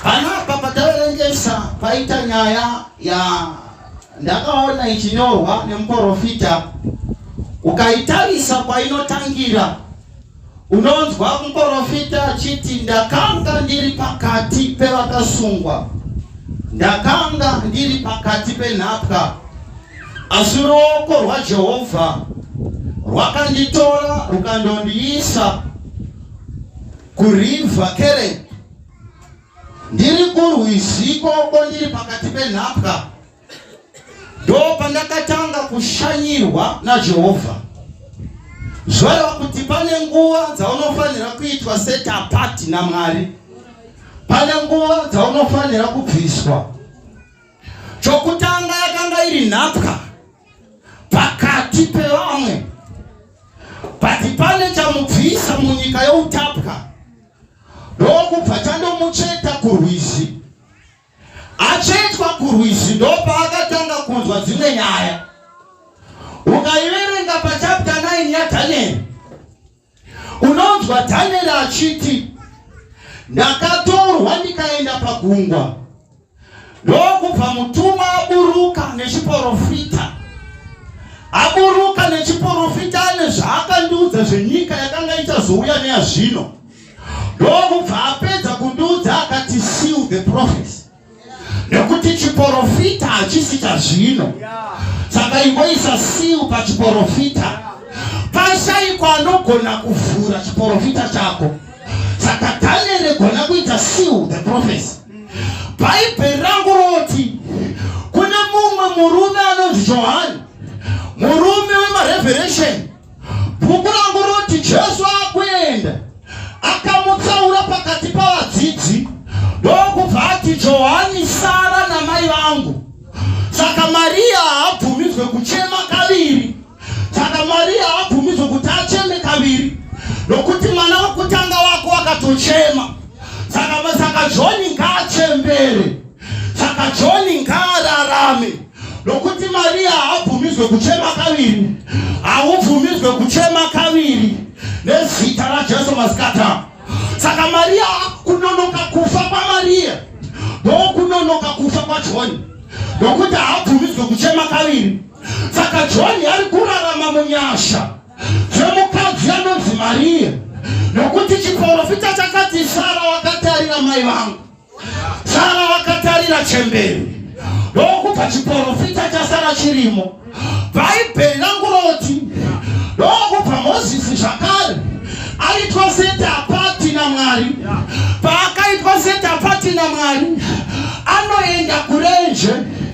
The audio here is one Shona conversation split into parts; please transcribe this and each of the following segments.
Hanapa pataverengesa paita nyaya ya ndakaona ichinyorwa nemuporofita, ukaitarisa kwainotangira unonzwa muporofita achiti ndakanga ndiri pakati pevakasungwa, ndakanga ndiri pakati penhapwa, asi ruoko rwaJehovha rwakanditora rukandondiisa Kuriva kereke ndiri kurwiziko ko ndiri pakati penhapwa ndo pandakatanga kushanyirwa najehovha zvoreva kuti pane nguva dzaunofanira kuitwa setapati namwari pane nguva dzaunofanira kubviswa Chokutanga yakanga iri nhapwa pakati pevamwe, bati pane chamubvisa munyika youtapwa ndokubva chandomucheta kurwizi. Achetwa kurwizi ndopaakatanga kunzwa dzimwe nyaya. Ukaiverenga pachapta 9 yaDhanieri Unonzwa Daniel achiti ndakatorwa ndikaenda pagungwa ndokubva mutumwa aburuka nechiporofita aburuka nechiporofita ane zvaakandiudza zvenyika yakanga ichazouya neyazvino ndokubva apedza kundiudza akati seal the prophecy nekuti chiporofita hachisi chazvino saka ingoisa siu pachiporofita pashaiko anogona kuvhura chiporofita chako saka danieri egona kuita siu the prophecy bhaibheri rangu roti kune mumwe murume anonzi johani murume wemareveresheni Bhuku rangu roti Jesu akuenda akamutsaura pakati pavadzidzi ndokubva ati Johani sara namai vangu. Saka Maria haabvumidzwe kuchema kaviri. Saka Maria haabvumidzwe kuti acheme kaviri nokuti mwana wekutanga wako wakatochema. Saka saka John ngaachembere. Saka John ngaararame. Nokuti Maria haabvumidzwe kuchema kaviri, haubvumidzwe kuchema kaviri nezita raJesu masikata. Saka Maria kunonoka kufa kwaMaria ndokunonoka kufa kwaJoni, nokuti haabvumidzwe kuchema kaviri. Saka Joni ari kurarama munyasha zvemukadzi anonzi Maria, nokuti chiporofita chakati Sara wakatarira mai vangu Sara vakatarira chembere ndokubva chiporofita chasara chirimo bhaibheri rangu roti ndokubva mozisi zvakare aitwa setapati namwari paakaitwa setapati namwari anoenda kurenje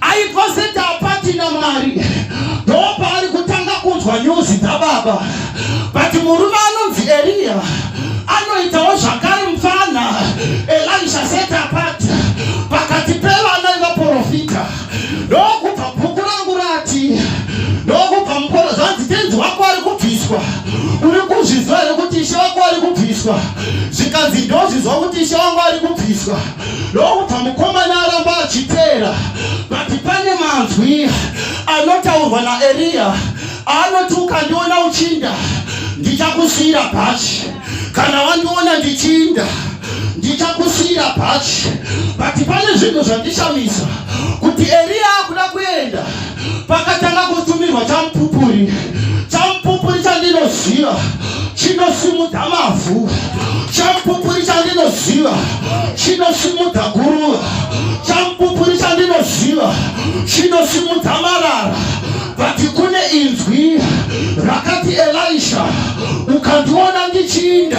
aiposeta apatina mari ndopaari kutanga kunzwa nyuzi dzababa but murume anonzi eriya anoitawo zvakare mfana elisha set apart pakati pevana ivaprofita ndokubva bhuku rangu rati ndokubva mukoro zvanzi tenzi wako ari kubviswa uri kuzviziva here kuti ishe wako ari kubviswa zvikanzi ndozviziva kuti ishe wangu ari kubviswa ndokubva mukomana aramba achiteera but pane manzwi anotaurwa naeriya aanoti ukandiona uchinda ndichakusiyira bhachi kana wandiona ndichinda ndichakusiyira bhachi but pane zvinhu zvandishamisa kuti eriya akuda kuenda pakatanga kutumirwa chamupupuri chamupupuri chandinoziva chinosimudza mavhu chamupupuri chandinoziva chinosimudza guruva chamupupuri chandinoziva chinosimudza marara but kune inzwi rakati elisha ukandiona ndichiinda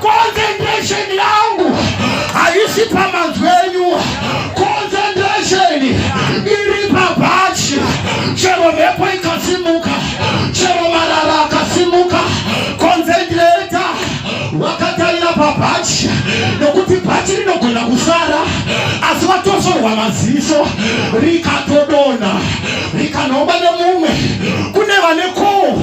concentration yangu haisi pamanzwi enyu concentration iri pabhachi chero mhepo ikasimuka chero marara akasimuka concentrata wakatarira pabhachi nokuti bhachi rinogona kusara asi watosorwa maziso rikatodona rikanomba nemumwe kune vane koo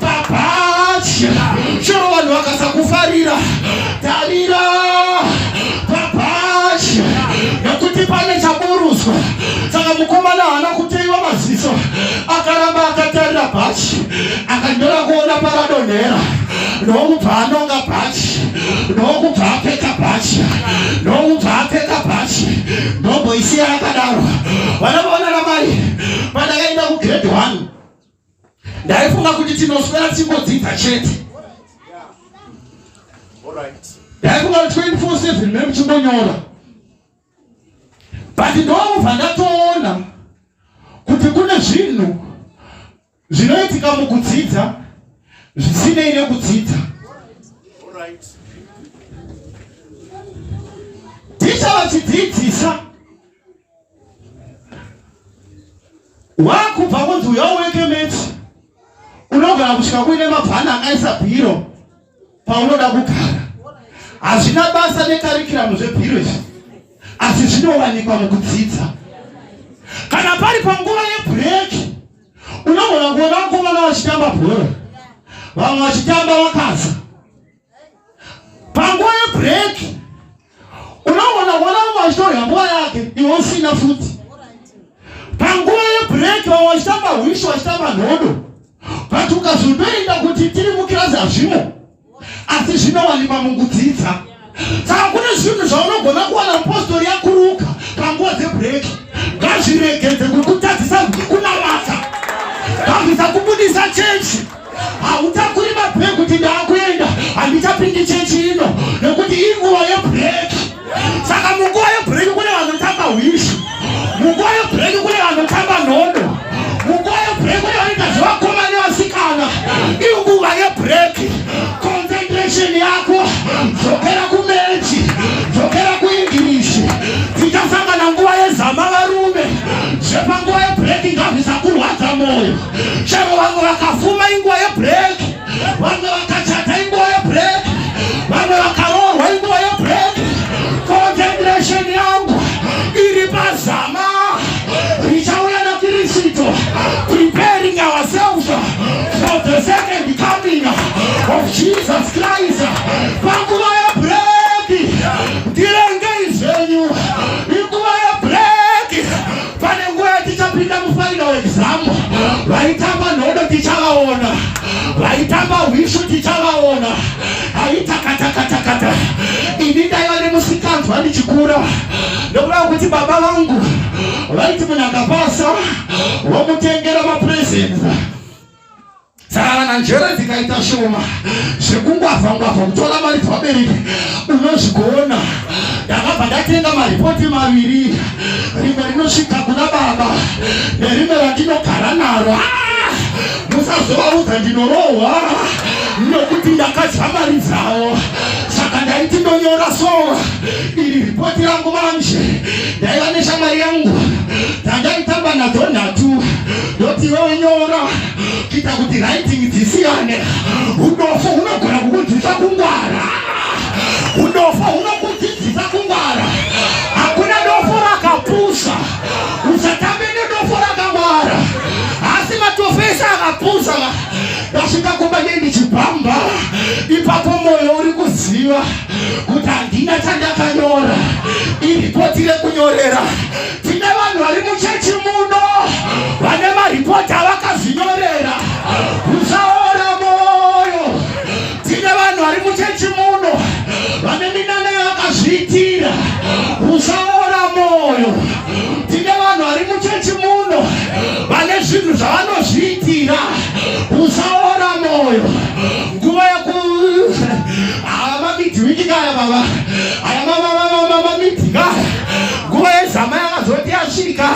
Papatya. Chero vanhu vakasakufarira. Tarira. Papatya. Nekuti pane chaburuswa. Saka mukomana haana kuteiwa maziso. Akaramba akatarira bhachi. Akanyora kuona paradonhera. Nokubva anonga bhachi. Nokubva apfeka bhachi. Nokubva apfeka bhachi. Ndomboisiya yakadaro. Vana vaona ramai. Pandakaenda kugredhi 1. ndaifunga kuti tinoswera tichingodzidza chete ndaifunga kuti 24/7 me muchingonyora but ndobva ndatoona kuti kune zvinhu zvinoitika mukudzidza zvisinei nekudzidza ticha vachidzidzisa wakubva kunzi uya uweke mechi unogona kusvika kuine mabhana akaisa bhiro paunoda kugara hazvina basa nekarikiramu zvebhiro izvi asi zvinowanikwa mukudzidza kana pari panguva yebhureki unogona kuona vakomana vachitamba bhora vamwe vachitamba vakaza panguva yebreak unoona wana vachitorya nguva yake iwe usina futi panguva yebreak vamwe vachitamba hwishi vachitamba nhodo but ukazotoenda kuti tiri mukirasi hazvimo asi zvinowanikwa mukudzidza saka kune zvinhu zvaunogona kuwana mupostori yakuruka panguva dzebreak ngazviregedze kukutadzisa kunamata ngazvisakubudisa chechi hautakuri mabhegi kuti ndaakuenda handichapindi chechi ino nekuti inguva yebhureki saka munguva yebhureki kune vanotamba hwishi munguva yebhureki kune vanotamba nhondo munguva yebhureki kune vanoita zvevakoma nevasikana inguva yebhureki concentration yako dzokera kumechi dzokera kuenglish tichasangana nguva yezama varume zvepanguva yebhureki ngazvisakurwadza mwoyo chero vamwe vakafuma inguva yebreak vamwe vakachata inguva yebreak vamwe vakaroorwa inguva yebreak concentration yangu iri pazama richauya nakirisito preparing ourselves for the second coming of jesus christ panguva Pane nguva yatichapinda mufinal exam, vaitamba nhodo tichavaona, vaitamba hwishu tichavaona, aitakatakatakata. Ini ndaiva nemusikanzwa ndichikura, ndokuda kuti baba vangu vaiti munhu akapasa womutengera mapresents Saka njere dzikaita shoma zvekungwavha ngwavha kutora mari dzevabereki unozvigoona ndakabva ndatenga maripoti maviri rimwe rinosvika kuna baba nerimwe randinogara naro ah! musazovaudza ndinorohwa nokuti ndakadya mari dzavo saka ndaiti ndonyora so iri ripoti rangu manje ndaiva neshamwari yangu dzandaitamba nadzo nhatu ndoti iwe unyora kuita kuti writing dzisiyane udofo hunogona kukudzisa kungwara udofo hunokudzidzisa kungwara hakuna dofo rakapusa usatambe nedofo rakangwara asi matofo ese akapusa ndasvika kumba nendichibhamba ipapo mwoyo uri kuziva kuti handina chandakanyora iripoti rekunyorera Tine vanhu vari muchechi muno vane maripoti avakazvinyorera usaora moyo. Tine vanhu vari muchechi muno vane minana yavakazviitira usaora moyo. Tine vanhu vari muchechi muno vane zvinhu zvavanozviitira usaora moyo. Nguva yeku ava mamidhimikikaya baba nguva yezama yakazoti yasvika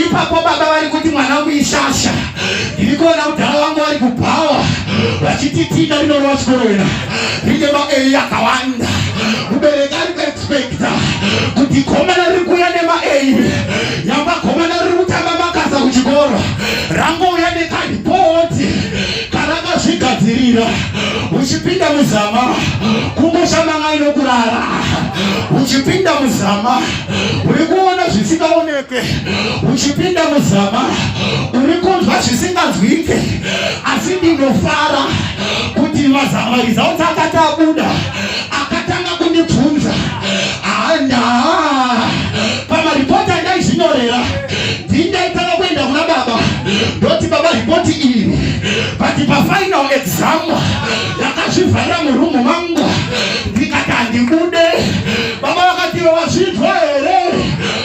ipapo baba vari kuti mwana wangu ishasha ndiri kuona mudhara wangu vari kubhawa vachiti tina rinorova chikoro ina rine maei akawanda mubereki ari kuexpekta kuti gomana riri kuuya nemaei yamba gomana riri kutamba makasa kuchikoro rangouya nekadipoti kana akazvigadzirira uchipinda muzama kungoshamanga inokurara uchipinda muzama uri kuona zvisingaonekwe uchipinda muzama uri kunzwa zvisinganzwike asi ndinofara kuti mazamarizaotakatabuda akatanga kundibvunza handa pamaripoti andaizinyorera ndindaitanga kuenda kuna baba ndoti baba ripoti iri but pafinal exam yakazvivharira murumu mangu ndikati handibude baba vakati wazvinzwa here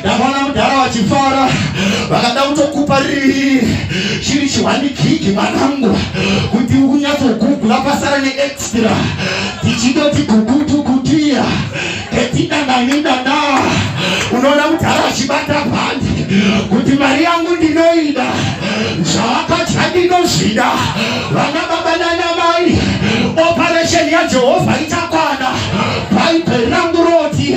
ndakaona mudhara vachifara vakada kutokupa riri chiri chiwanikiki mwanangu kuti unyatsogugula pasara neextra tichidoti gugutu kutiya ketidananidana unoona mudhara vachibata bhandi kuti mari yangu ndinoida zvavakadya ndinozvida vana baba nana mai operesheni yajehovha ichakwana bhaibheri rangu roti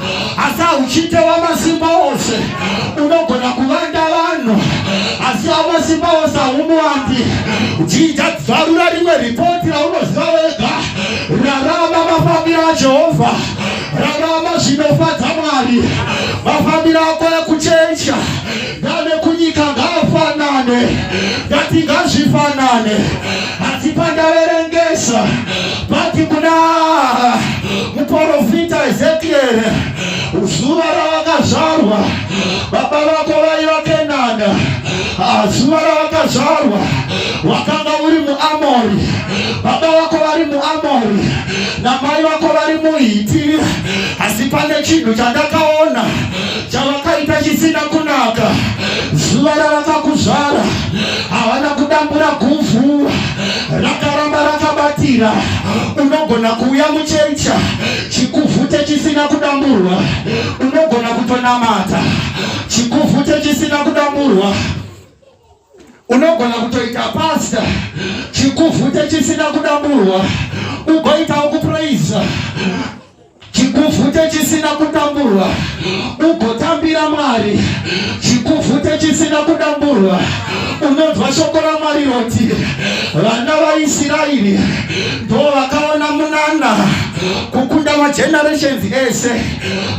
asi hauchite wamasimba ose unogona kuvanda vanhu asi wamasimba ose haumuwandi jinja dzvarura rimwe ripoti raunoziva wega rarama mafambiro ajehovha rarama zvinofadza mwari mafambiro ako ekuchecha ndanekunyika ngaafanane ndatingazvifanane asi pandaverengesa vati kuna muporofita Ezekieri, zuva rawakazvarwa baba vako vaiva Kenana, ah, zuva rawakazvarwa wakanga uri muAmori, baba vako vari muAmori namai vako vari muHiti, asi pane chinhu chandakaona chavakaita chisina kunaka. Zuva ravakakuzvara havana kudambura guvhu rakaramba rakabatira unogona kuuya muchecha chikuvhute chisina kudamburwa unogona kutonamata chikuvhute chisina kudamburwa unogona kutoita pasta chikuvhute chisina kudamburwa ugoitawo kupraiza chikuvhute chisina kudamburwa ugotambira mwari chikuvhute chisina kudamburwa unonzwa shoko ramwari roti vana vaisraeri ndo vakaona munana kukunda magenerations ese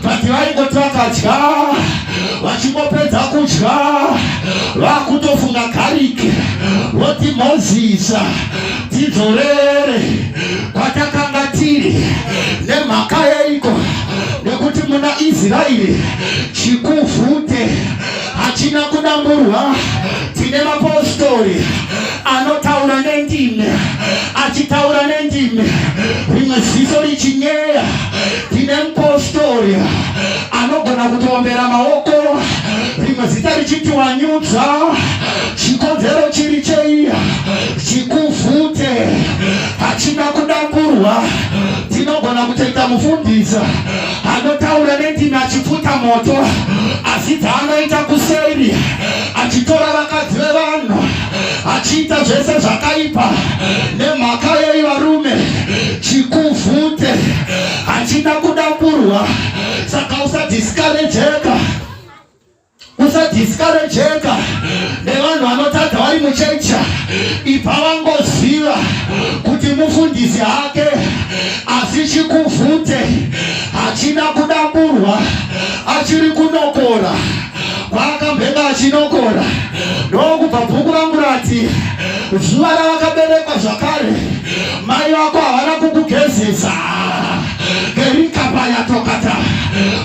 but vaingoti vakadya vachingopedza kudya vakutofunga gariki voti mozisa tidzorere kwatakanga tiri nemhaka yeiko nekuti muna israeri chikuvhute hachina kudamburwa tine mapostori anotaura nendimi achitaura nendimi rimwe ziso richinyeya tine mupostori anogona kutoombera maoko rimwe zita richitiwanyudza chikonzero chiri cheiya chikuvhute achida kudakurwa tinogona kutoita mufundisa anotaura nendimi achipfuta moto asi dzaanoita kuseri achitora vakadzi vevanhu achiita zvese zvakaipa nemhaka yei varume chikuvhute achida kudakurwa saka usadiskarejeka Usadiscourageka nevanhu vanotadza vari muchechi ibva vangoziva kuti mufundisi hake asi chikuvhute hachina kudamburwa achiri kunokora kwaakambhenga achinokora ndokubva bhuku rangu rati zuva ravakaberekwa zvakare mai vako havana kukugezesa kerikapayatokata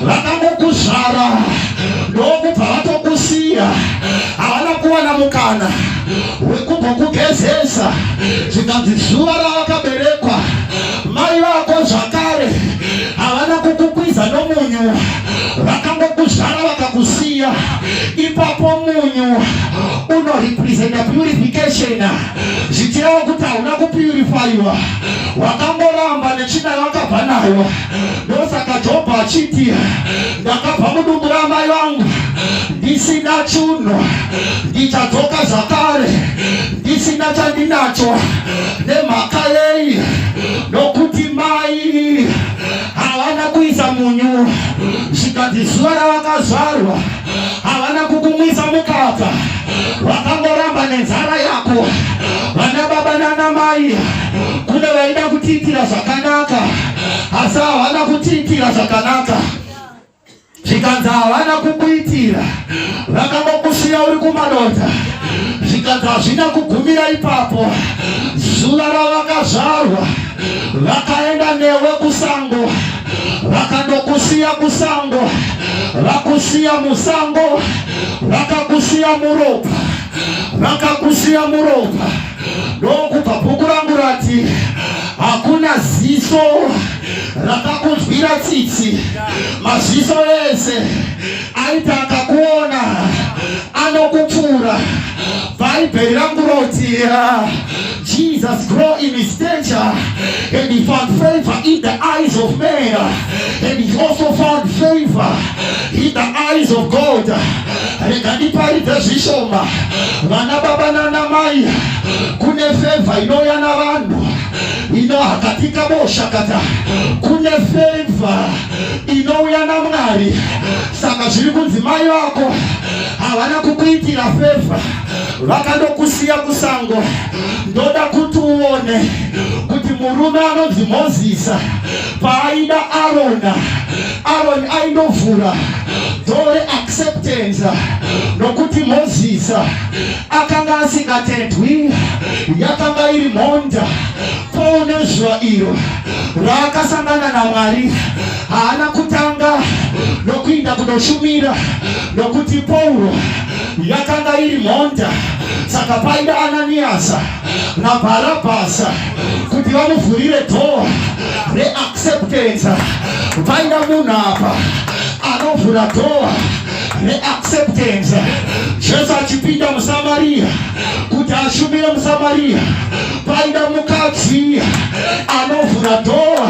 vakangokuzvara ndokubva vatokusiya havana kuwana mukana wekubva kugezesa zvikanzi zuva ravakaberekwa mai vako zvakare havana kukukwiza nomunyu vakangokuzvara vakakusiya ipapo munyu unorepresenta purification zvichireva kuti hauna kupurifaiwa wakangoramba nechina yawakabva nayo ndosaka jobho achiti ndakabva mudumbu ramai vangu ndisina chunhu ndichadzoka zvakare ndisina chandinacho nemhaka yei nokuti mai havana kuisa munyu zvikanzi zuva ravakazvarwa havana kukumwisa mukaka wakangoramba nenzara yako vana baba nana mai kune vaida kutiitira zvakanaka asi havana kutiitira zvakanaka zvikanzi havana kukuitira vakangokusiya uri kumadota zvikanzi hazvina kugumira ipapo zuva ravakazvarwa vakaenda newe kusango vakandokusiya kusango vakusiya musango vakakusiya muropa vakakusiya muropa ndokubva bhuku rangu rati hakuna ziso rakakunzwira tsitsi maziso ese aiti akakuona anokupfuura bhaibheri rangu roti Jesus grow in his stature and he found favor in the eyes of men and he also found favor in the eyes of God rega ndiparidze zvishoma vana baba nana mai kune favor inouya na vanhu inohakatika boshakata kune favor inouya na mwari saka zviri kunzi mai vako havana kukuitira favor vakandokusiya kusango ndoda kuti uone kuti murume anonzi mozisa paaida arona aroni aindovhura dore acceptance nokuti mozisa akanga asingatendwi yakanga iri mhonda poune zuva iro raakasangana namwari haana kutanga nokuinda kunoshumira nokuti pauro yakanga iri mhonda saka paida ananiyasa nabharabhasa kuti vamuvhurire dhoo reacceptance paida munhu apa anovhura dhoo reacceptance jesu achipinda musamariya kuti ashumire musamariya paida mukadzi anovhura dhoo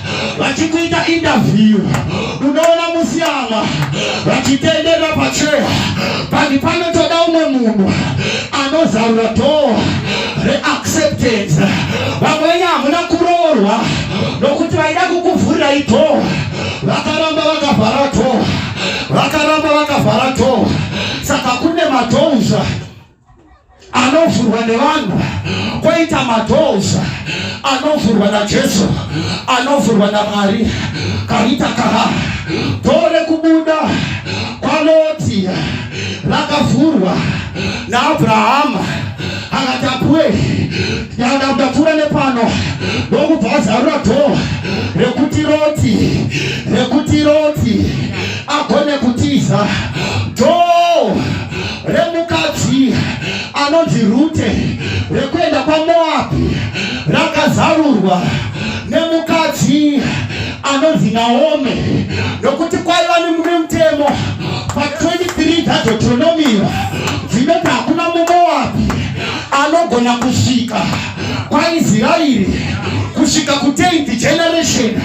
vachikuita interview unoona musiyana vachitenderera pacheya panhi panotoda umwe munhu anozarura dhoo reacceptance vamwenye hamuna kuroorwa nokuti vaida kukuvhurirai dhoo vakaramba vakavhara dhoo vakaramba vakavhara dhoo saka kune madhouza anovhurwa nevanhu koita madoors anovhurwa najesu anovhurwa namwari karita kaha doo rekubuda kwaloti rakavhurwa naabrahama akati apuwe ndapfuura nepano ndokubva azarura doo rekuti roti rekuti roti agone kutiza doo remukadzi anonzi Rute rekuenda kwaMoabhi rakazarurwa nemukadzi anonzi Naomi nokuti kwaiva nemumwe mutemo pa 23 dzaDeuteronomia dzinoti hakuna muMoabhi anogona kusvika kwaIsraeri kusvika ku 10th generation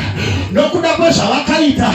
nokuda kwezvavakaita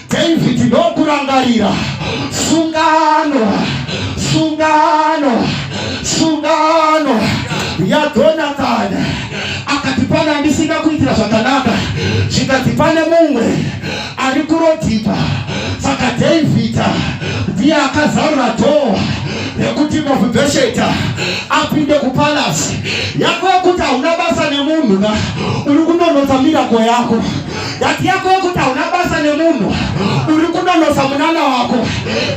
David ndokurangarira sungano sungano sungano yaJonathan akati pane andisina kuitira zvakanaka zvikati pane mumwe ari kurodhipa saka David ndiye akazarura dhoo rekuti mofibhesheta apinde kupalasi yako yekuti hauna basa nemunhu ka uri kunonotsa mirako yako Nyati yako yokuti hauna basa nemunhu uri kunonotsa munana wako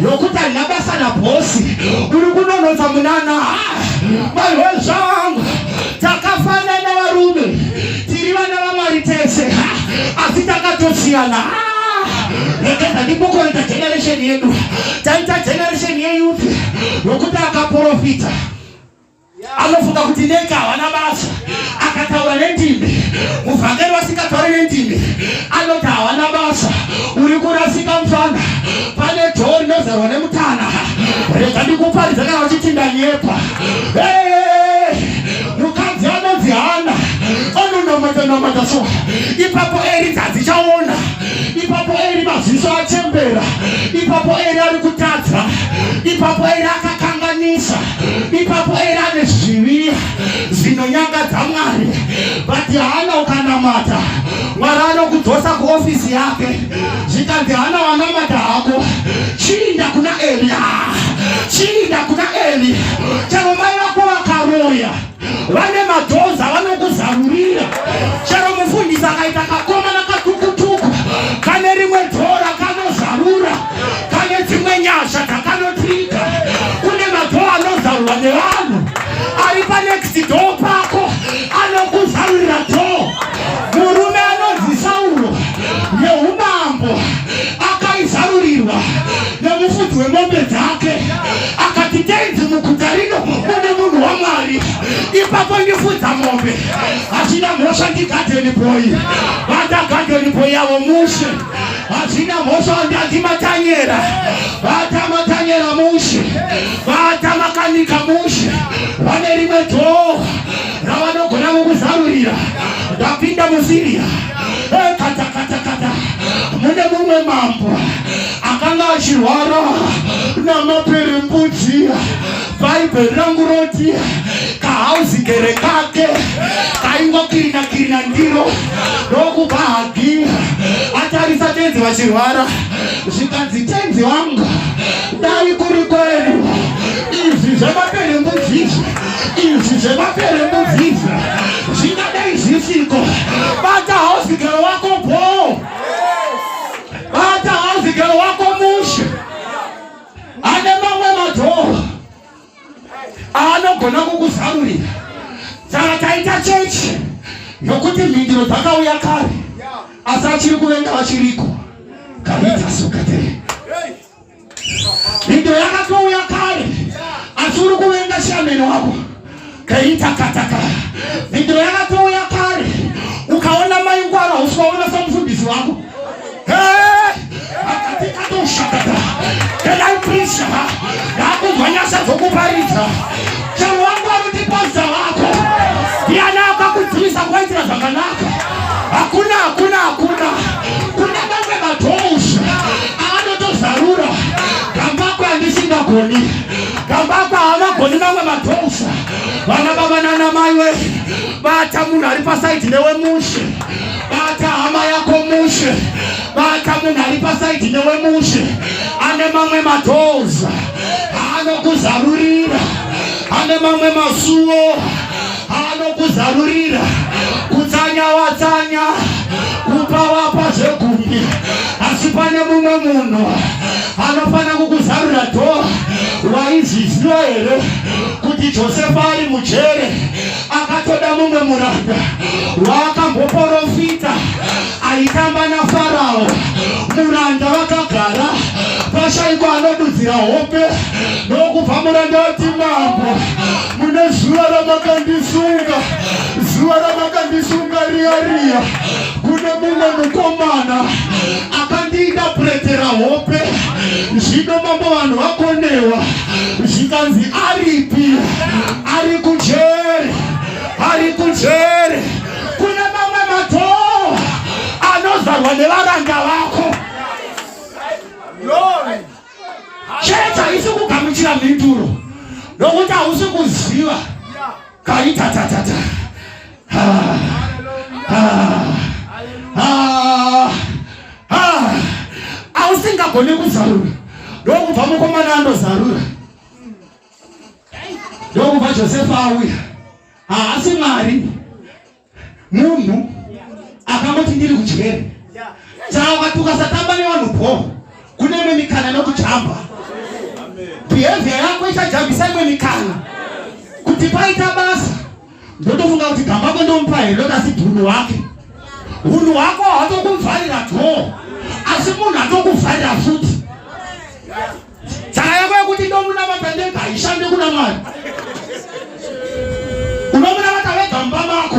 yokuti handina basa nabhosi uri kunonotsa munana maiwe zvangu takafanana varume tiri vana vamwari tese asi takatosiyana rekeza ndikukorita generation yedu taita generation yeyouth yokuti akaprofita anofunga kuti neka havana basa akataura nendimi muvhangeri vasingatauri nendimi anoti havana basa uri kurasika mfana pane dhoo rinozarwa nemutana rega ndikuparidza kana vachiti ndanyepa mukadzi anonzi hana ononomatanamata so ipapo eri dzadzichaona ipapo eri maziso achembera ipapo eri ari kutadza ipapo eri akakanganisa ipapo era ane zvivi zvinonyangadza mwari vati hana ukanamata mwari anokudzosa kuofisi yake zvikanzi hana wanamata hako chiinda kuna eria chiinda kuna eli chero mai vako vakaroya vane madhoza vanokuzarurira chero mufundisi akaita kakomana katukutuku kane rimwe dhora kanozarura kane dzimwe nyasha dzakanotiita kune madhoo anozarurwa nevanhu ari panext doo pako anokuzarurira doo murume anonzi sauro neumambo akaizarurirwa nemufudzi wemombe dzake akati tenzi muguta rino mune munhu wamwari ipapo ndifudza mombe hachina mhosva ndigadeni boyi vandagadeni boyi yavo mushe hachina mhosva ndati matanyera vata matanyera mushe vata makanika mushe vane rimwe dhoo ravanogona mukuzarurira ndapinda musiriya eh, katakatakata mune mumwe mambo akanga achirwara namaperembudzi bhaibheri rangu roti kahauzi gere kake kaingokirina kirina ndiro ndokuba hagi atarisa tenzi vachirwara zvikanzi tenzi wangu dai kuri kwenu izvi zvemaperembudzi izvi izvi zvemaperembudzi izvi zvingadai zvisiko bata hauzi gere wako bhoo Bata hanzi gero wako mushe ane mamwe madhoo aanogona kukuzarurira saka taita chechi nokuti mhindiro dzakauya kare asi achiri kuvenga vachiriko kaita sokatee Video yakatouya kare asi uri kuvenga shameni wako kaitakataka. Video yakatouya kare ukaona mai ngwara usikaona samufundisi wako akatikadoshakata kenai prisha yakunzwa nyasha dzokuparidza chero wangu akutipaza wako ndiani akakudzivisa kwaitira zvakanaka hakuna hakuna hakuna kuna vamwe madhousha avanotozarura kambako andisingagoni kambako havagoni mamwe madhousa vana baba nana mai we bata munhu ari pasaidi newe mushe bata hama yako mushe bata munhu ari pasaidi newe mushe ane mamwe madhousa anokuzarurira ane mamwe masuwo anokuzarurira kutsanya watsanya kupa wapa zvegumi asi pane mumwe munhu anofanira kukuzarura dho waizviziva here kuti josefa ari mujere akatoda mumwe muranda waakamboporofita aitamba nafarao muranda vakagara pashaiko anodudzira hope nokubva muranda wati mambo mune zuva ramakandisunga zuva ramakandisunga riya riya kune mumwe mukomana akandiita puretera hope zvino mambo vanhu vakonewa zvikanzi aripi ari kujeri ari kujeri kune mamwe matoo anozarwa nevaranga vako Chechi haisi kugamuchira mhinduro nokuti hausi kuziva kaita tatata hausingagone kuzarura ndokubva mukomana andozarura ndokubva josefa auya haasi mwari munhu akangoti ndiri kudyeri saka tukasatamba nevanhu bho kune imwe mikana inokujamba behavior yako ichajambisa imwe mikana kuti paita basa ndotofunga kuti gambako ndomupa here ndokasi dhunhu wake hunhu hwako hwatokumvarira dhoo asi munhu atokuvharira futi yeah. Saka yako yekuti ndomunamata ndega haishande kuna Mwari. Unomunamata wega mumba mako.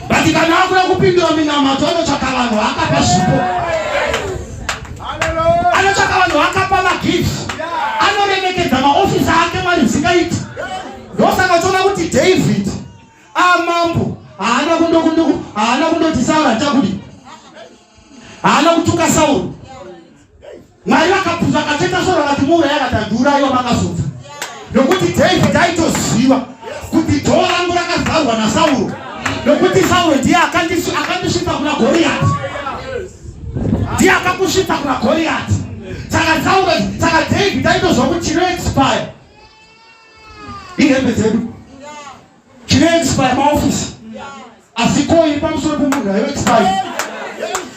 But kana akuda kupindura minamato anotsvaka vanhu akapa zvipo. Anotsvaka vanhu akapa magifts. Anoremekedza maofisi ake Mwari zvingaiti. Ndosaka uchiona kuti David amambo ah, haana kundokunduku haana kundoti saura chakudi haana kutuka Sauro. Mwari vakabvunza akacheta Sauro akati muuraya akati andiurayiwa makazobva. Nokuti David aitoziva kuti dhoo rangu rakavharwa naSauro. Nokuti Sauro ndiye akandisvitsa kuna Goriati. Ndiye akakusvitsa kuna Goriati. Saka Sauro saka David aitozwa kuti chinoexpire. Ihembe dzedu. chinoexpire maofisi asi ko iri pamusoro pemunhu ayo expire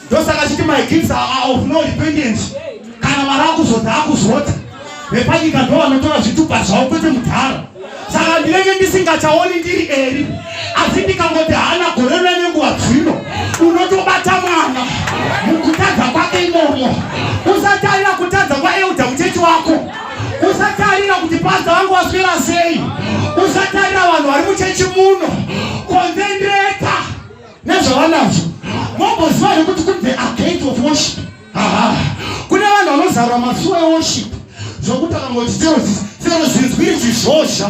ndosaka chiti my kids are of no repentance kana mari akuzodza akuzodza vepanyika ndo vanotora zvitupa zvavo kwete mudhara saka ndinenge ndisingachaoni ndiri eri asi ndikangoti haana gore rina nenguva dzino unotobata mwana mukutadza kwake imomo usatarira kutadza kwaeuda muchechi wako usatarira kuti padza vangu vaswera sei usatarira vanhu vari muchechi muno konzenreta nezvavanazvo momboziva here kuti kune the agate of worship kune vanhu vanozarura masuwa eworship zvokuti akamoti sero zinzwiri chizhozha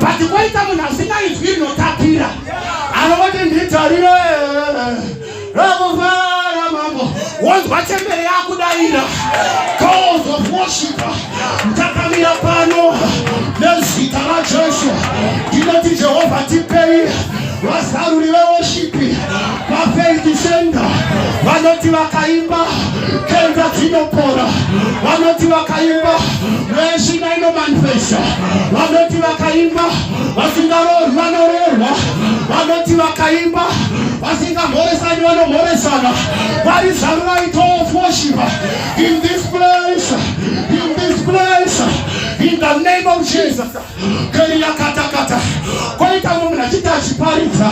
but kwaita munhu asina izwi rinotapira anoti nditarire rakufara mambo wonzwa chembere yakudaira calls of worship ndakamira pano nezita rajesu ndinoti jehovha tipei vazaruri veworship VaFaith Shenga vanoti vakaimba kenza dzinopora, vanoti vakaimba mweshina inomanifesta, vanoti vakaimba vasingaroorwi vanoroorwa, vanoti vakaimba vasingamhoresani vanomhoresana, vari zvavo vaito of worship in this place, in this place, in the name of Jesus. keriyakatakata koita mumwe achiti achiparidza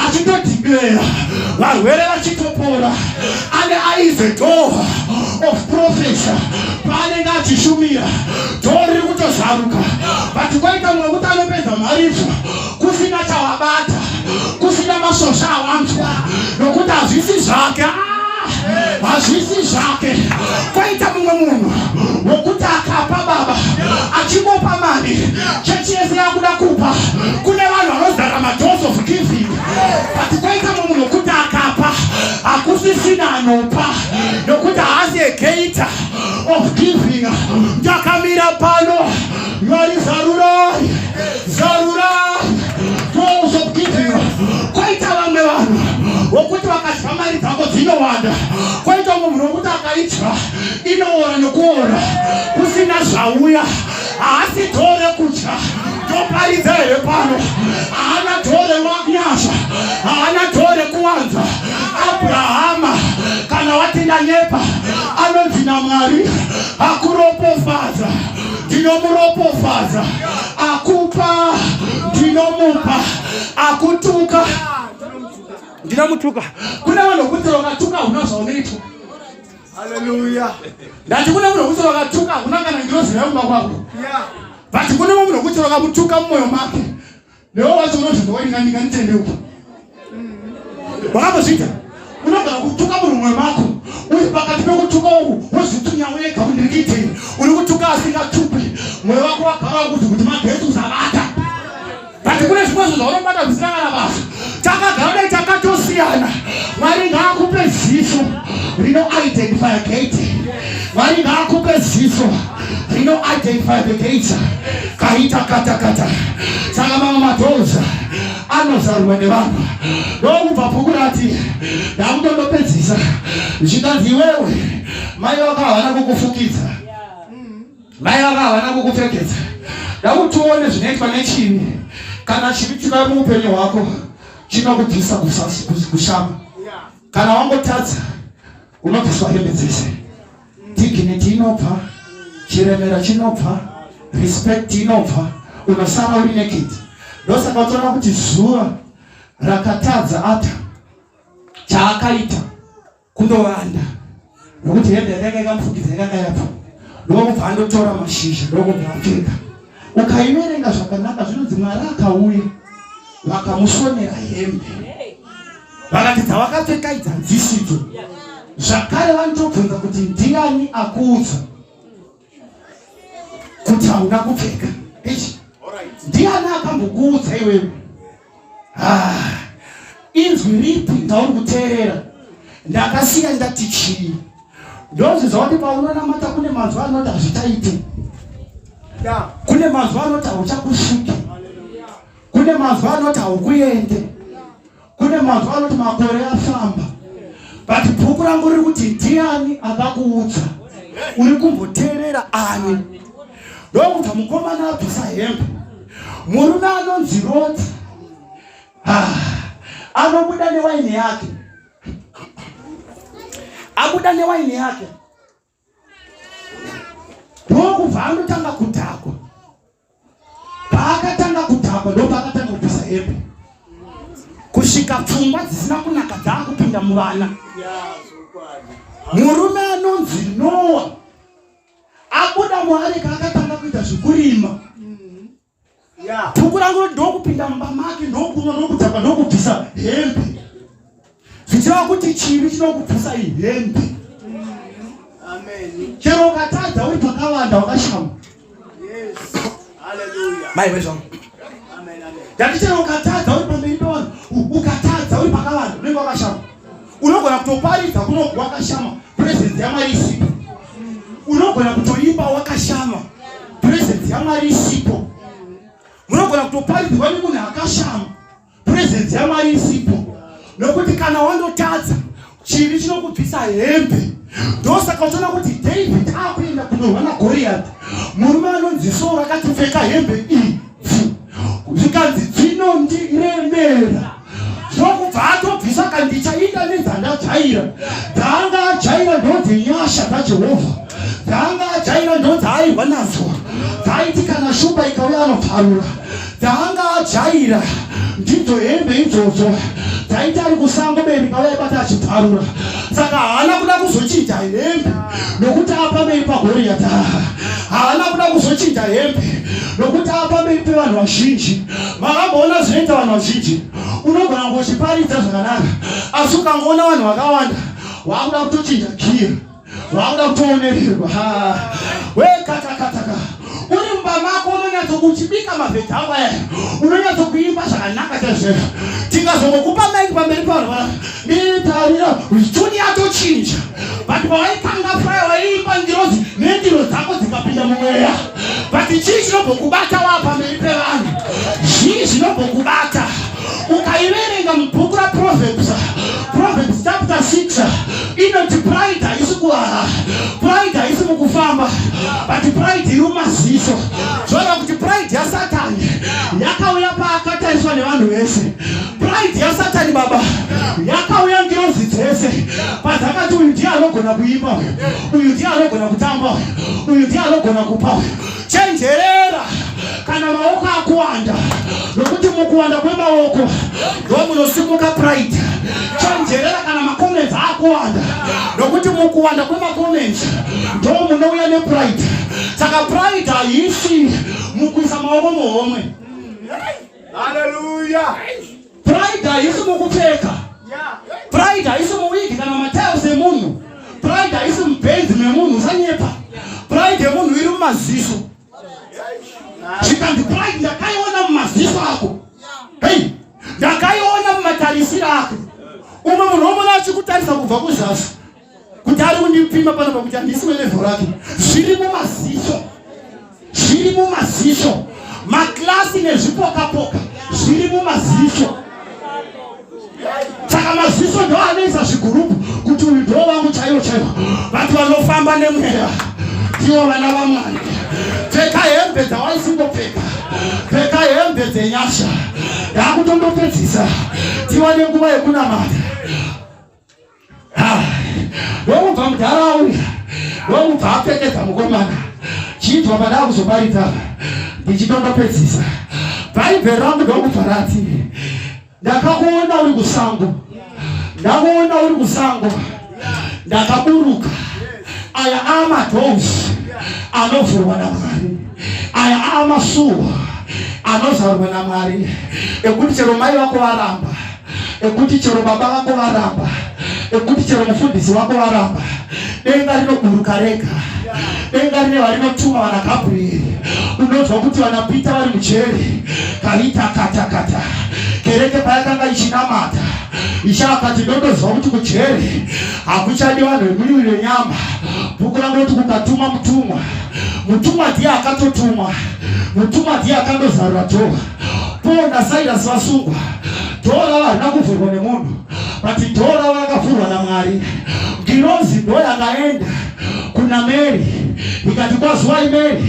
achitodhiklera varwere vachitopora ane aize door of profesa paanenge achishumira door riri kutozaruka but koita mumwe kuti anopedza mharidzo kusina chawabata kusina masosha awanzwa nokuti hazvisi zvake ah, hazvisi zvake kwaita mumwe munhu wokuti akapa baba achimupa mari chechi yese yakuda kupa kune vanhu vanozara madoors of giving but kwaita mumwe munhu wokuti akapa hakusisina anopa nokuti haasi egeita of giving ndakamira pano Mwari zarurai, zarurai doors of giving. Kwaita vamwe vanhu vokuti vakadya mari dzako dzinowanda, kwaita munhu vokuti akaidya inoora nokuora kusina zvauya, haasi dhoo rekudya toparidza here pano? Haana dhoo renyasha, haana dhoo rekuwanza. Abrahama kana watinda nyepa anonzi naMwari akuropofadza. ndinomuropofadza akupa ndinomupa akutuka ndinomutuka kune vanhu vekuti vakatuka huna zvaunoitwa haleluya ndati kune munhu wekuti vakatuka huna kana ngirozi yaumba kwako vati kune munhu wekuti vakamutuka mumwoyo make Newe wacho unoti ndowaringa ndinga nditende uku. Wakambozvita? Unogara kutuka murume mako. Uri pakati pekutuka uku wozvitunya wega kuti ndiri kuitei. Uri kutuka asingatupi. Mwoyo wako wagara wakuti kuti magetsi usabata. But kune zvimwe zvinhu zvaunobata zvisina kana basa. Takagara dai takatosiyana. Mwari ngaakupe ziso rino identify gate. Mwari ngaakupe ziso. rino identify the gates kaita kata kata saka mamwe madoors anozarurwa nevanhu ndokubva bhuku rati ndakutondopedzisa zvikanzi iwewe mai vako havana kukufukidza mai vako havana kukupfekedza ndakutione zvinoitwa nechivi kana chivi chikari muupenyu hwako chinokubvisa kushama kana wangotadza unobviswa hembe dzese dignity inobva chiremera chinobva respect inobva unosara uri naked ndosaka uchiona kuti zuva rakatadza ata chaakaita kundovanda nokuti hembe yakaika ikamufukidza yakakayapa ndokubva andotora mashizha ndokubva apfeka ukaiverenga zvakanaka zvinonzi mwari akauya vakamusonera hembe vakati dzawakapfeka idzi hadzisidzo zvakare vanotobvunza kuti ndiani akuudza kuti hauna kupfeka ndiani akambokuudza iwewe Ah, inzwi ripi ndauri kuteerera ndakasiya ndati chii ndozviza kuti paunonamata kune manzwi anoti hazvichaite kune manzwi anoti hauchakusvike kune manzwi anoti haukuende kune manzwi anoti makore afamba but bhuku rangu riri kuti ndiani akakuudza uri kumboteerera ani ndokubva mukomana abvisa hembe murume anonzi roti ah, anobuda newaini yake abuda newaini yake ndokubva anotanga kudhakwa paakatanga kudhakwa ndopaakatanga kubvisa hembe kusvika pfungwa dzisina kunaka dzaakupinda muvana murume anonzi noa abuda muareka akatanga kuita zvekurima bhuku rangu ndokupinda mumba make ndokunwa ndokudzaka ndokubvisa hembe zvichireva kuti chivi chinokubvisa ihembe chero ukatadza uri pakavanda wakashama mai vezvangu ndati chero ukatadza uri pamberi pevanhu ukatadza uri pakavanda unenge wakashama unogona kutoparidza kunonzi wakashama presence yamwari isipo unogona kutoimba wakashama presence yamwari isipo munogona kutoparidzirwa nemunhu akashama presence yamwari isipo nokuti kana wandotadza chivi chinokubvisa hembe ndosaka uchiona kuti david akuenda kunorwa nagoriyati murume anonzi soo rakatipfeka hembe idzi zvikanzi dzinondiremera zvokubva atobvisa kandichaita nedzandajaira dzaanga ajaira ndodzi nyasha dzajehovha dzaanga ajaira ndodzaairwa nadzo dzaiti kana shumba ikauya anoparura dzaanga ajaira ndidzo hembe idzodzo dzaiti ari kusango beri kauya ibata achiparura saka haana kuda kuzochinja hembe nokuti apamei pagoriyata haana kuda kuzochinja hembe nokuti apamei pevanhu vazhinji makamboona zvinoita vanhu vazhinji unogona kungochiparidza zvakanaka asi ukangoona vanhu vakawanda waakuda kutochinja giya waakuda kutoonererwa wekatakataka uri mumba mako unonyatsokuchibika mavhedha ako aya unonyatsokuimba zvakanaka chaizvozvo tingazongokupa maiki pamberi pavanhu vanaka netarira toni yatochinja but pawaitanga faya waiimba ngirozi nendiro dzako dzikapinda mumweya but chii chinombokubata waa pamberi pevanhu zvii zvinombokubata ukaiverenga mubhuku raproverbs proverbs chapter 6 inoti pride haisi kuhara pride haisi mukufamba but pride iri mumaziso zvoreva kuti pride yasatani yakauya paakatariswa nevanhu vese pride yasatani baba yakauya ngirozi dzese padzakati uyu ndiye anogona kuimba uyu ndiye anogona kutamba uyu ndiye anogona kupa chenjerera kana maoko akuwanda nokuti mukuwanda kwemaoko ndomunosimuka pride chenjerera kana makomenzi akuwanda nokuti mukuwanda kwemakomenzi ndomunouya nepride saka pride haisi mukuisa maoko muhomwe Hallelujah. Pride haisi mukupfeka. Pride haisi muwigi kana matiles emunhu. Pride haisi mubenzi memunhu usanyepa. Pride yemunhu iri mumaziso. Zvikanzi pride ndakaiona mumaziso ako. Hey, ndakaiona mumatarisiro ako. Umwe munhu omona achikutarisa kubva kuzasi. kuti ari kundipima pano pakuti handisi welevo rake zviri mumaziso zviri mumaziso maklasi nezvipokapoka zviri mumaziso saka maziso ndo anoisa zvigurupu kuti uyu ndo vangu chaiwo chaiwo vati vanofamba nemweya ndiwo vana vamwari pfeka hembe dzawaisingopfeka pfeka hembe dzenyasha ndakutondopedzisa tiwane nguva yekunamata Nokubva mudhara auya, nokubva apfekedza mukomana, chinzwa padaa kuzoparidza ndichitondopedzisa bhaibheri rangu ndokubva rati ndakakuona uri kusango, ndakuona uri kusango, ndakaburuka. Aya amadoors anovhurwa naMwari, aya amasuwa anozarwa naMwari, ekuti chero mai vako varamba ekuti chero baba vako varamba ekuti chero mufundisi wako varamba denga rinoburuka rega denga rine varinotuma vana gabrieri unonzwa kuti vana pita vari mujeri kaita katakata kereke payakanga ichinamata ichakati ndondoziva kuti kujeri hakuchadi vanhu vemuviri wenyama bhuku rangu roti kukatuma mutumwa mutumwa ndiye akatotumwa mutumwa ndiye akandozarura jova Paul naSilas vasungwa, dhoo ravo harina kuvhurwa nemunhu, but dhoo ravo rakavhurwa naMwari. Ngirozi ndo yakaenda kuna Mary ikati, kwazuwai Mary,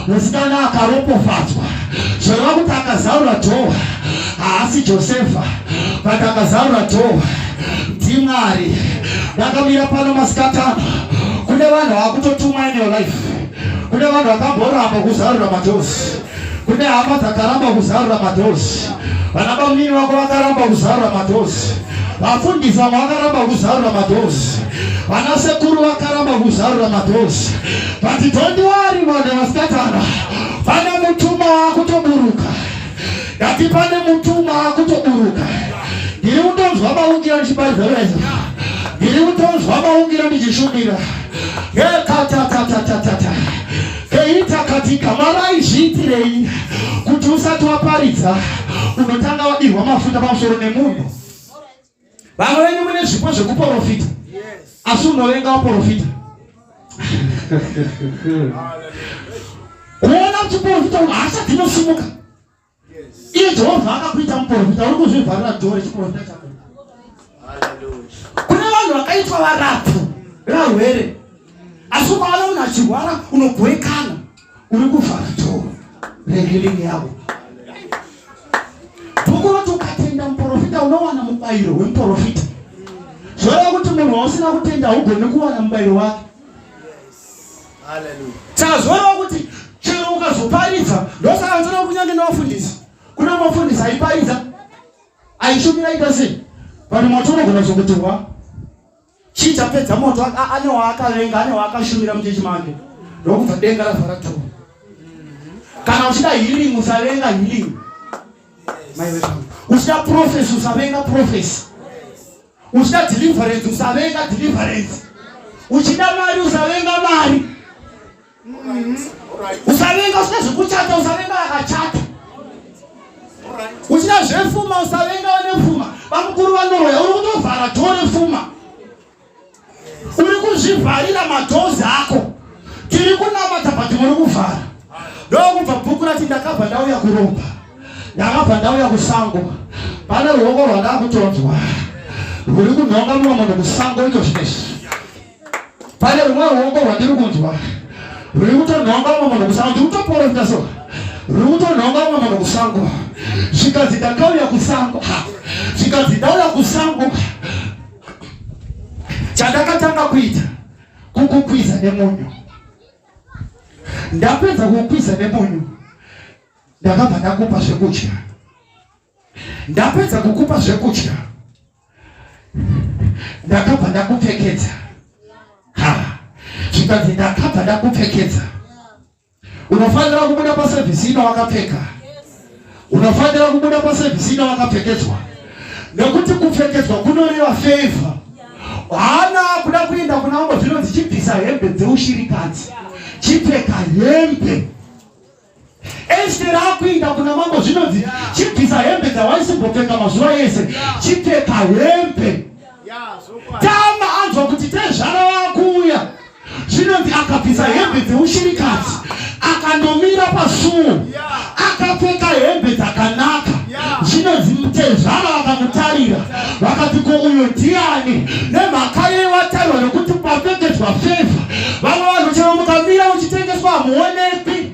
musikana akaropofadzwa. Zvoreva kuti akazarura dhoo haasi Josefa, but akazarura dhoo ndiMwari. Ndakamira pano masikatano, kune vanhu vakutotumwa in your life, kune vanhu vakamboramba kuzarura madhozi kune hama dzakaramba kuzarura madhozi vana bamnini vako vakaramba kuzarura madhozi vafundisi vamwe vakaramba kuzarura madhozi vana sekuru vakaramba kuzarura madhozi vati tondiwari mwana vasikatana pane mutuma wakutoburuka ndati pane mutuma wakutoburuka ndiri kutonzwa maungira ndichibaizereza ndiri kutonzwa maungira ndichishumira yekatatatata David akati, Igama raizviitirei kuti usati waparidza unotanga wadirwa mafuta pamusoro nemunhu? Vamwe venyu mune zvipo zvekuporofita, asi unovenga waporofita. Kuona chiporofita, hasha dzinosimuka. Iye Jehovha akakuita muprofita, uri kuzvivharira dhoo rechiprofita chako. Kune vanhu vakaitwa varapfu varwere, asi ukaona munhu achirwara unobhoikana, uri kuvhara dhoo rehiringi yavo. Bhuku roti ukatenda muprofita unowana mubayiro wemuprofita. Zvoreva kuti munhu wausina kutenda haugoni kuwana mubayiro wake. tazoreva kuti chero ukazoparidza ndosaka nzora kunyange nevafundisi kune mafundisi aiparidza aishumira aita sei vanhu moto unogona kuzokutirwa chii chapedza moto ane waakavenga ane waakashumira muchechi make ndokubva denga ravhara tu kana uchida healing usavenga healing maiwezvangu uchida profesi usavenga profesi uchida deliverance usavenga deliverance uchida mari usavenga mari usavenga usina zvekuchata usavenga akachata uchida zvefuma usavenga vane fuma vamukuru vanoroya uri kutovhara tore fuma uri kuzvivharira madhozi ako tiri kunamata but muri kuvhara ndokubva bhuku rati ndakabva ndauya kuromba ndakabva ndauya kusango pane ruoko rwandakutonzwa rwuri kunhonga mumwe munhu kusango ito zvinezvi pane rumwe ruoko rwandiri kunzwa ruri kutonhonga mumwe munhu kusango ndiri kutoporofita so ruri kutonhonga mumwe munhu kusango zvikanzi ndakauya kusango zvikanzi ndauya kusango chandakatanga kuita kukukwiza nemunyu ndapedza kukwiza nemunyu ndakabva ndakupa zvekudya ndapedza kukupa zvekudya ndakabva ndakupfekedza ha zvikanzi ndakabva ndakupfekedza Unofanira kubuda pasevhisi ino wakapfeka. Unofanira kubuda pasevhisi ino wakapfekedzwa, nekuti kupfekedzwa kunoreva favor. Hana kuda kuenda kuna mambo zvinonzi chibvisa hembe dzeushirikadzi, chipfeka hembe. Esteri akuenda kuna mambo zvinonzi chibvisa hembe dzawaisimbotenga mazuva ese, chipfeka hembe. tama anzwa kuti tezvara wakuuya zvinonzi akabvisa hembe dzeushirikadzi akandomira pasuo akapfeka hembe dzakanaka zvinonzi mutezvara vakamutarira vakati ko uyo ndiani nemhaka yewatarirwa nekuti papfekedzwa fevha vava vanhu chero mukamira uchitengeswa hamuonekwi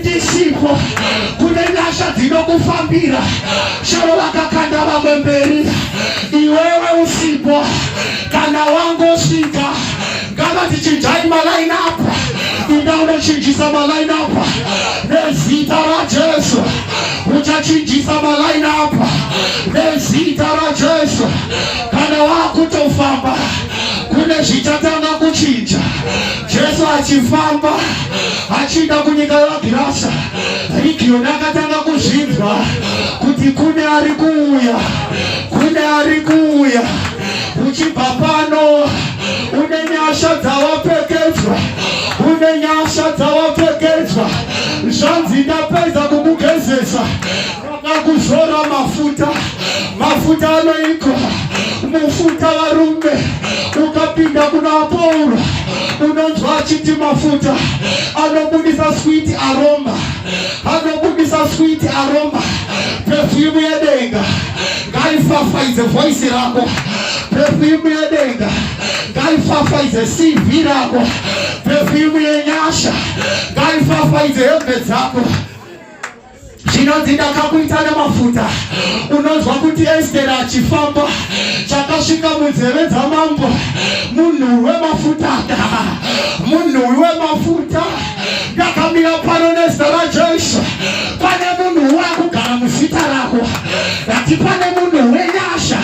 ndisipo kune nyasha dzinokufambira sharo vakakanda vamwe mberi iwewe usipo kana wangosvika ngava dzichinjai malaini apa inda unochinjisa malaini apa nezita rajesu uchachinjisa malaini apa nezita rajesu kana wakutofamba kune zvichatanga kuchinja Jesu achifamba achienda kunyika yaGirasa, Rigioni akatanga kuzvinzwa kuti kune ari kuuya, kune ari kuuya. Uchibva pano une nyasha dzawapfekedzwa, une nyasha dzawapfekedzwa. Zvanzi ndapedza kukugezesa Vakakuzora mafuta, mafuta anoiko mufuta varume, ukapinda kuna Pauro unonzwa achiti mafuta anobudisa sweet aroma, anobudisa sweet aroma, perfume yedenga ngaifafaidze voice rako, perfume yedenga ngaifafaidze CV rako, perfume yenyasha ngaifafaidze hembe dzako. zvinonzi ndakakuita nemafuta unonzwa kuti esteri achifamba chakasvika munzeve dzamambo munhuwi wemafuta ka munhuwi wemafuta ndakamira pano nezita rajesu pane munhu wakugara muzita rako ati pane munhu wenyasha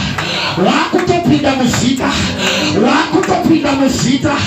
wakutopinda muzita wakutopinda muzita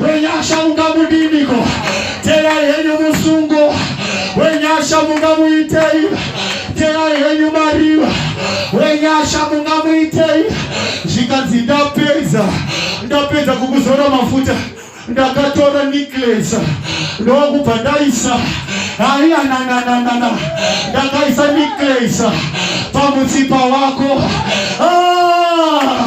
wenyasha mungamudiniko terai henyu musungo wenyasha mungamuitei terai henyu mariva wenyasha mungamuitei zvikanzi ndapedza ndapedza kukuzora mafuta ndakatora necklace ndokubva ndaisa haiya nanananana ndakaisa necklace pamutsipa wako ah!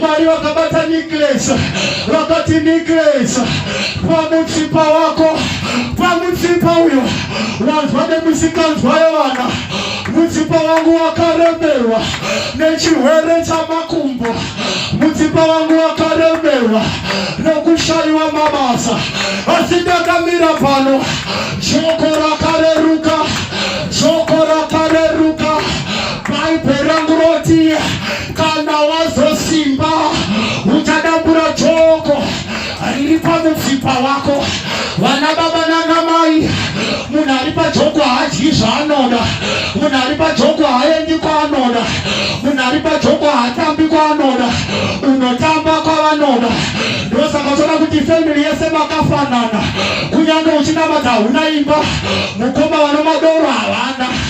Mwari vakabata Nicholas, vakati Nicholas, pamutsipa wako, pamutsipa uyo wanzwa nemisikanzwa yevana, mutsipa wangu wakaremerwa nechirwere chamakumbo, mutsipa wangu wakaremerwa nokushaiwa mabasa, asi ndakamira pano, joko rakareruka, joko rakareruka, bhaibheri rangu rotiye Kana wazosimba uchadambura joko riri pamutsipa wako. Vana baba nana mai, munhu ari pajoko haadyi zvaanoda, munhu ari pajoko haaendi kwaanoda, munhu ari pajoko haatambi kwaanoda, unotamba kwavanoda. Ndosaka uchiona kuti family yese makafanana, kunyange uchinamata huna imba, mukoma vanomadoro havana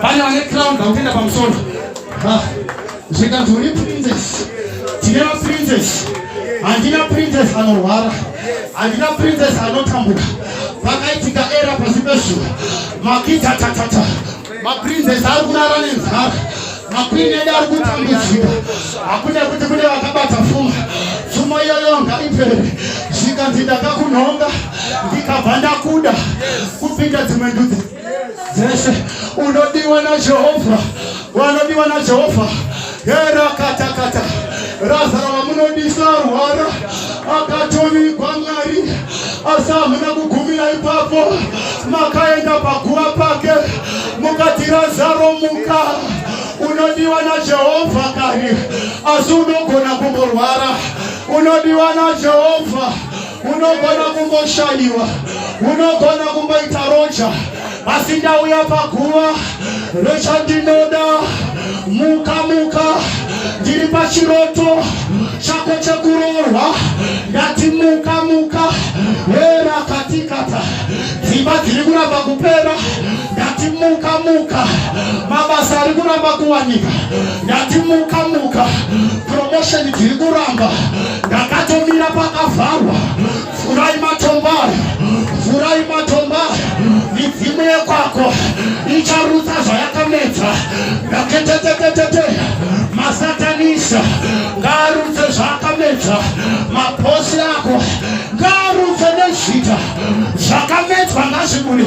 Pane vane crown dzakutenda pamusoro. Ah, zvikanzi uri princess. Tine maprincess. Handina princess anorwara. Handina princess anotambuka. Pakaitika era pasi pezuva. Makita tatata. Maprincess ari kurara nenzara. Makwini edu ari kutambudzika. Hakuna kuti kune vakabata fuma. Fuma iyoyo ngaipere. Zvikanzi ndakakunhonga ndikabva ndakuda kupinda dzimwe ndudzi. dzese unodiwa najehovha wanodiwa najehovha erakatakata razaro vamunodisa rwara akatovigwa mwari asi hamuna kugumira ipapo makaenda paguva pake mukati razaro muka unodiwa najehovha kari asi unogona kumborwara unodiwa najehovha unogona kumboshayiwa unogona kumboita roja asi ndauya paguva rechandinoda muka muka ndiri pachiroto chako chekuroorwa ndati muka muka hera katikata dzimba dziri kuramba kupera ndati muka muka mabasa ari kuramba kuwanika ndati muka muka promotion dziri kuramba ndakatomira pakavharwa vhurai matombo aya vhurai matombo aya midzimu yekwako icharutsa zvayakamedza ndaketetetetete masatanisa ngaarutse zvaakamedza maposi ako ngaarutse nezvita zvakamedzwa ngazviburi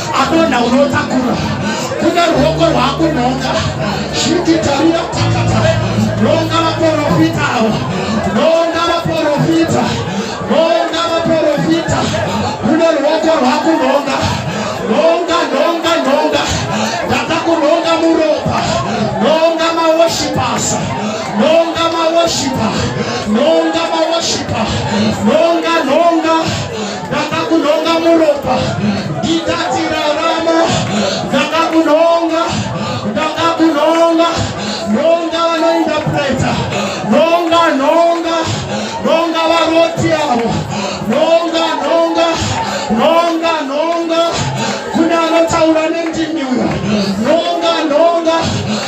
adonha unotakura kune ruoko rwakunhonga shiti tarira takata nonga vaprofita ava nonga vaprofita nonga vaprofita kune ruoko rwakunhonga nonga nonga nonga ndada kunhonga muropa nonga mawoshipasa nonga mawoshipa nonga mawoshipa nonga nonga Ndakakunhonga muropa ndikati rarama, ndakakunhonga, ndakakunhonga, nhonga vanoindapreta, nhonga, nhonga, nhonga varoti avo, nhonga, nhonga, nhonga, nhonga, kune anotaura nendimi uya, nhonga, nhonga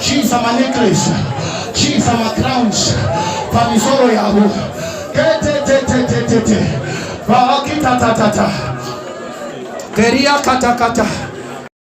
Chiisa manecklace, chiisa macrowns pamisoro yavo. Tetetetetetete. Vaakitatatata. Keria katakata.